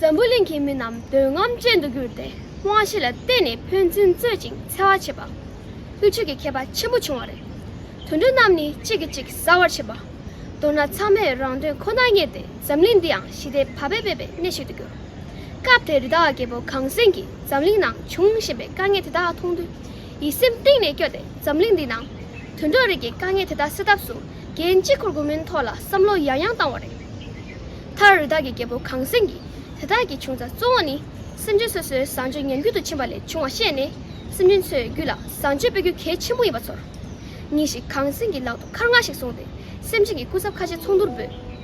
འཛམ་བུ་གླིང་གི་མི་རྣམས་འདོད་རྔམ་ཅན་དུ་གྱུར་ཏེ་དབང་ཤེས་ལ་བརྟེན་ནས་ཕན་ཚུན་རྩོད་ཅིང་འཚེ་བ་བྱེད་པ། དབུལ་ཕྱུག་གི་ཁྱད་པར་ཆེན་པོ་བྱུང་བ་རེད། དུད་འགྲོ་རྣམས་ནི་གཅིག་གིས་གཅིག་ཟ་བར་བྱེད་པ། མདོར་ན་ཚང་མས་རང་དོན་ཁོ་ནར་གཉེར་ཏེ་འཛམ་གླིང་འདི་ཡང་ཞི་བདེ་བག་ཕེབས་པའི་གནས་ཤིག་ཏུ་གྱུར། སྐབས་དེར་རི་དྭགས་རྒྱལ་པོ་གངས་སེང་གིས་འཛམ་གླིང་ནང་འབྱུང་བཞིན་པའི་དཀའ་ངལ་དེ་དག་མཐོང་དུས། ཡིད་སེམས་གཏིང་ནས་སྐྱོ་སྟེ་འཛམ་གླིང་འདིའི་ནང། དུད་འགྲོ་རིགས་ཀྱི་དཀའ་ངལ་དེ་དག་སེལ་ཐབས་སུ་རྒྱལ་གཅེས་འཁོར་དགུ་མིན་ཐོག་ལ་བསམ་བློ་ཡང་ཡང་བཏང་བ་རེད། མཐར་རི་དྭགས་ཀྱི་རྒྱལ་པོ་གངས་སེང་གིས་དེ་དག་གི་བྱུང་རྩ་གཙོ་བོ་ནི། སེམས་ཅན་སོ་སོའི་བཟང་སྤྱོད་ཉམས་རྒུད་དུ་ཕྱིན་པ་ལས་བྱུང་བ་ཤེས་ནས་སེམས་ཅན་ཚོའི་རྒྱུད་ལ་བཟང་སྤྱོད་སྤེལ་རྒྱུ་གལ་ཆེན་པོ་ཡིན་པ་ཚོར། ཉིན་ཞིག་གངས་སེང་གིས་ལག་ཏུ་མཁར་རྔ་ཞིག་བཟུང་སྟེ་སེམས་ཅན་གྱི་སྐུ་ཚབ་ཁ་ཆེ་ཚོགས་འདུར་འབོད།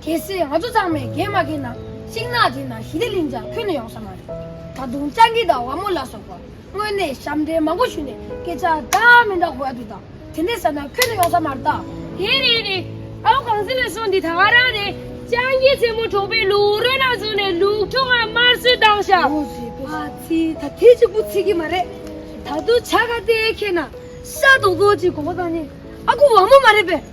གལ་སྲིད་ང་ཚོ་ཚང་མས་འགན་མ་འཁྱེར་ན་ཤིང་ནགས་འདི་ན་ཞི་བདེ་གླིང་ཆགས་ཁུལ་ནི་ཡོང་ས་མ་རེད། ད་དུང་སྤྱང་ཀི་དང་བ་མོ་ལ་སོགས་པ་དངོས་གནས་ཞབས་འདྲེན་མང་པོ་ཞུས་ནས་སྐད་ཆ་འདྲ་མི་འདྲ་གོ་ཡ་དུས་དང་དེ་འདྲའི་ས་ན་ཁུལ་ནི་ཡོང་ས་མ་རེད་ད། དེ་རེད་རེད། ཨའོ་གངས་སེང་ལ་ཤོག་འདི་ད་ག་རང་རེད། སྤྱང་ཀི་རྩེད་མོ་གྲོགས་པོའི་ལུག་རོལ་ན་བཟུང་ནས་ལུག་ཁྱུ་ལྔ་དམར་གསོད་བཏང་ཤག། ཨོ་ཟེར་པོ་ཨ་ཙི་ད་དེ་གཅིག་པུ་ཚིག་གི་མ་རེད། ད་དུང་བྱ་དགའ་སྟེར་མཁན་ན་ཤ་རྡོག་རྡོག་ཅིག་གོ་བ་དང་ནི་ཨ་ཁུ་བ་མོ་མ་རེད་པས།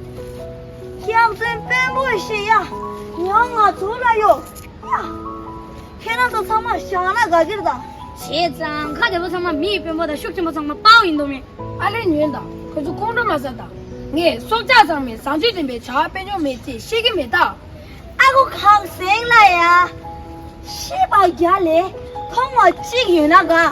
ཁྱེད་རང་ཚོའི་དཔོན་པོ་ཞེས་ཡ་ཡང་ང་ཚོ་ལ་གཡོ་སྙམ། ཁྱེད་རང་ཚོ་ཚང་མ་བཞག་ན་དགའ་གིར་དང། བྱས་ཙང་ཁ་བདེ་པོ་ཚང་མ་མི་ཡི་དཔོན་པོ་དང་ཤུགས་ཆེན་པོ་ཚང་མ་དཔའ་བོ་ཡིན་མདོག་མེད། ཨ་ལེ་ཉོན་དང་ཁོ་ཚོ་ཁོང་ཁྲོ་མ་ཟ་དང། ངས་སྲོག་ཆགས་ཚང་མའི་བཟང་སྤྱོད་འཛིན་པའི་བྱ་བ་སྤེལ་མྱོང་མེད་ཚེ་ཤེས་ཀྱི་མེད་ད། ཨ་ཁུ་ཁག་གསེང་ལ་ཡ། ཤི་བ་བརྒྱ་ལས་མཐོང་བ་གཅིག་ཡོད་ན་དགའ།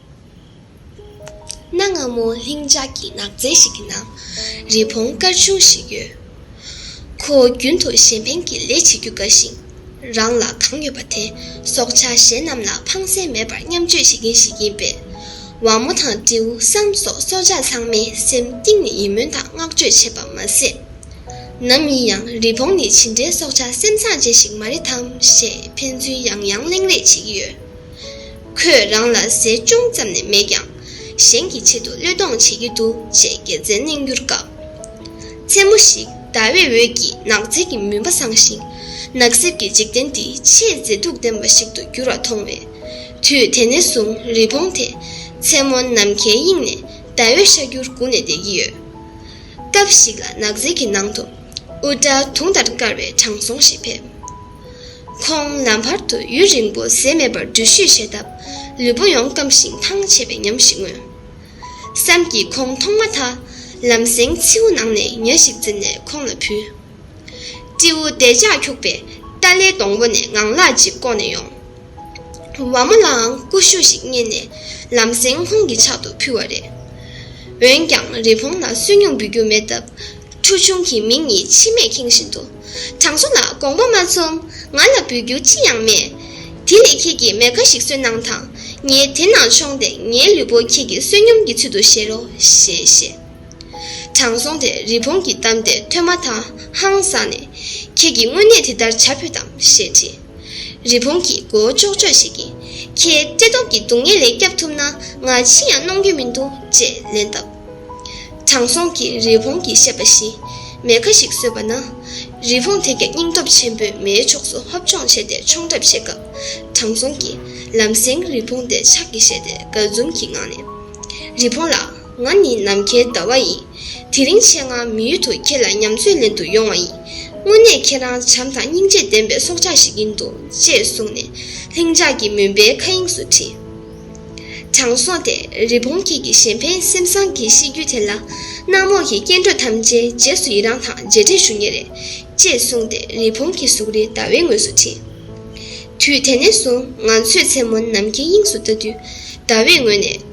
གནའ་སྔ་མོ་ལྷིང་འཇགས་ཀྱི་ནགས་ཚལ་ཞིག་གི་ནང། རི་བོང་དཀར་ཆུང་ཞིག་ཡོད། ཁོ་རྒྱུན་དུ་གཞན་ཕན་གྱི་ལས་བྱེད་རྒྱུ་དགའ་ཞིང། རང་ལ་གང་ཡོད་པ་དེ་སྲོག་ཆགས་གཞན་རྣམས་ལ་ཕངས་སེམས་མེད་པར་མཉམ་སྤྱོད་བྱེད་མཁན་ཞིག་ཡིན་པས། བ་མོ་དང་སྤྲེའུ་སྲམ་སོགས་སྲོག་ཆགས་ཚང་མས་སེམས་གཏིང་ནས་ཡིད་སྨོན་དང་བསྔགས་བརྗོད་བྱེད་པ་མ་ཟད། ནམ་ཡིན་ཡང་རི་བོང་ནི་ཇི་འདྲའི་སྲོག་ཆགས་སེམས་བཟང་ཅན་ཞིག་མ་རེད་དམ་ཞེས་ཕན་ཚུན་ཡང་ཡང་གླེང་རེས་བྱེད་ཀྱི་ཡོད། ཁོས་རང་ལ་ཟས་ཅུང་ཙམ་ནས་མེད་ཀྱང། གཞན་གྱི་ཆེད་དུ་བློས་གཏོང་བྱེད་ཀྱི་འདུག་ཅེས་དགེ་མཚན་གླེང་རྒྱུར་དགའ། མཚན་མོ་ཞིག་ཟླ་བའི་འོད་ཀྱིས་ནགས་ཚལ་གྱི་མུན་པ་བསངས་ཤིང། ནགས་གསེབ་ཀྱི་འཇིག་རྟེན་འདི་ཆེས་མཛེས་སྡུག་ལྡན་པ་ཞིག་ཏུ་གྱུར་བ་མཐོང་བས། དུས་དེ་ནས་བཟུང་རི་བོང་དེས་མཚན་མོ་ནམ་མཁའི་དབྱིངས་ནས་ཟླ་འོད་ཤར་རྒྱུར་སྒུག་ནས་བསྡད་ཀྱི་ཡོད། སྐབས་ཤིག་ལ་ནགས་ཚལ་གྱི་ནང་དུ། དབུ་སྐྲ་དུང་ལྟར་དཀར་བའི་དྲང་སྲོང་ཞིག་ཕེབས། ཁོང་ནམ་བར་དུ་ཡུན་རིང་པོ་ཟས་མེད་པར་འགྲུལ་བཞུད་བྱས་སྟབས་ལུས་པོ་ཡོངས་སྐམ་ཞིང་ཐང་ཆད་པའི་ཉམས་ཤིག་མངོན། སེམས་ཀྱིས་ཁོང་མཐོང་མ་ཐག་ལམ་སེང་མཚེའུ་ནང་ནས་ཉྭ་ཞིག་འཛིན་ནས་ཁོང་ལ་ཕུལ། སྤྲེའུ་དལ་ཅག་འཁྱུག་པས་ཏཱ་ལའི་སྡོང་པོ་ནས་ངང་ལག་ཅིག་བཀོག་ནས་ཡོང། བ་མོ་ལའང་ཀུ་ཤུ་ཞིག་རྙེད་ནས་ལམ་སེང་ཁོང་གི་ཕྱག་ཏུ་ཕུལ་བ་རེད། འོན་ཀྱང་རི་བོང་ལ་སུན་སྙུང་འབུལ་རྒྱུ་མེད་སྟབས། ཁྲུ་ཆུང་གིས་མིག་གཉིས་མཆི་མས་ཁེངས་བཞིན་དུ། དྲང་སྲོང་ལགས་དགོངས་པ་མ་ཚོམ། ང་ལ་འབུལ་རྒྱུ་ཅི་ཡང་མེད། དེ་ལས་ཁྱེད་ཀྱིས་མེ་ཁ་ཞིག་གསོས་གནང་དང། ངས་དེ་ནང་མཆོངས་སྟེ་ངའི་ལུས་པོ་ཁྱེད་ཀྱི་བསོད་སྙོམས་ཀྱི་ཚུལ་དུ་བཞེས་རོགས་ཞེས་བཤད། དྲང་སྲོང་དེས་རི་བོང་གི་གཏམ་དེ་ཐོས་མ་ཐག་ཧང་སངས་ནས། ཁྱེད་ཀྱིས་དངོས་གནས་དེ་ལྟར་བྱ་ཕོད་དམ་ཞེས་དྲིས། རི་བོང་གིས་མགོ་བོ་ལྕོག་ལྕོག་བྱེད་ཀྱིན། ཁྱེད་བཀྲེས་སྟོབས་ཀྱི་སྡུག་བསྔལ་ལས་སྐྱབས་ཐུབ་ན་ང་ཅི་ཡང་གནོང་རྒྱུ་མི་འདུག་ཅེས་ལན་བཏབ། དྲང་སྲོང་གིས་རི་བོང་གིས་བཤད་པ་བཞིན་མེ་ཁ་ཞིག་གསོས་པ་ན། རི་བོང་དེ་ཀྱང་སྙིང་སྟོབས་ཆེན་པོས་མེའི་ཕྱོགས་སུ་ཧབ་ལྗོངས་བྱས་ཏེ་མཆོང་གྲབས་བྱེད་སྐབས། དྲང་སྲོང་གིས་ལམ་སེང་རི་བོང་དེ་ཕྱག་གིས་བཞེས་ཏེ་དགའ་འཛུམ་གྱི་ངང་ནས། རི་བོང་ལགས། ང་ནི་ནམ་མཁའི་ཟླ་བ་ཡིན། དེ་རིང་ཆེད་མངགས་མི་ཡུལ་དུ་ཁྱེད་ལ་ཉམས་ཚོད་ལེན་དུ་ཡོང་བ་ཡིན། དངོས་གནས་ཁྱེད་རང་བྱམས་དང་སྙིང་རྗེ་ལྡན་པའི་སྲོག་ཆགས་ཤིག་ཡིན་འདུག་ཅེས་གསུངས་ནས་ལྷིང་འཇགས་ཀྱི་མུན་པའི་མཁའ་དབྱིངས་སུ་འཁྲིད། དྲང་སྲོང་དེས་རི་བོང་ཁྱེད་ཀྱི་གཞན་ཕན་སེམས་བཟང་གི་གཤིས་རྒྱུད་དེ་ལ། གནམ་འོག་གི་སྐྱེ་འགྲོ་ཐམས་ཅད་རྗེས་སུ་ཡི་རང་དང་མཇལ་འཕྲད་ཞུ་ངེས་རེད། ཅེས་གསུངས་ཏེ་རི་བོང་གི་གཟུགས་རི་ཟླ་བའི་ངོས་སུ་འཁྲིད། དུས་དེ་ནས་བཟུང་ང་ཚོས་མཚན་མོ་ནམ་མཁའི་དབྱིངས་སུ་ལྟ་དུས་ཟླ་བའི་ངོས་ནས།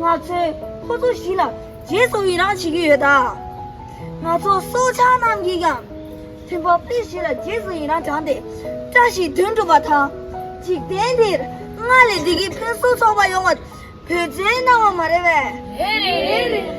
ང་ཚོས་ཁོ་ཚོ་བཞི་ལ་རྗེས་སུ་ཡི་རངས་བྱེད་ཀྱི་ཡོད། ང་ཚོ་སྲོག་ཆགས་རྣམས་ཀྱིས་ཀྱང་བཙུན་པ་དཔེ་བཞི་ལ་རྗེས་སུ་ཡི་རངས་བྱང་སྟེ་བཀྲ་ཤིས་དོན་གྲུབ་པ་དང། འཇིག་རྟེན་འདིར་སྔར་ལས་བདེ་སྐྱིད་ཕུན་སུམ་ཚོགས་པ་ཡོང་བར་བོད་བཙན་གནང་བ་མ་རེད་བས། རེད་རེད།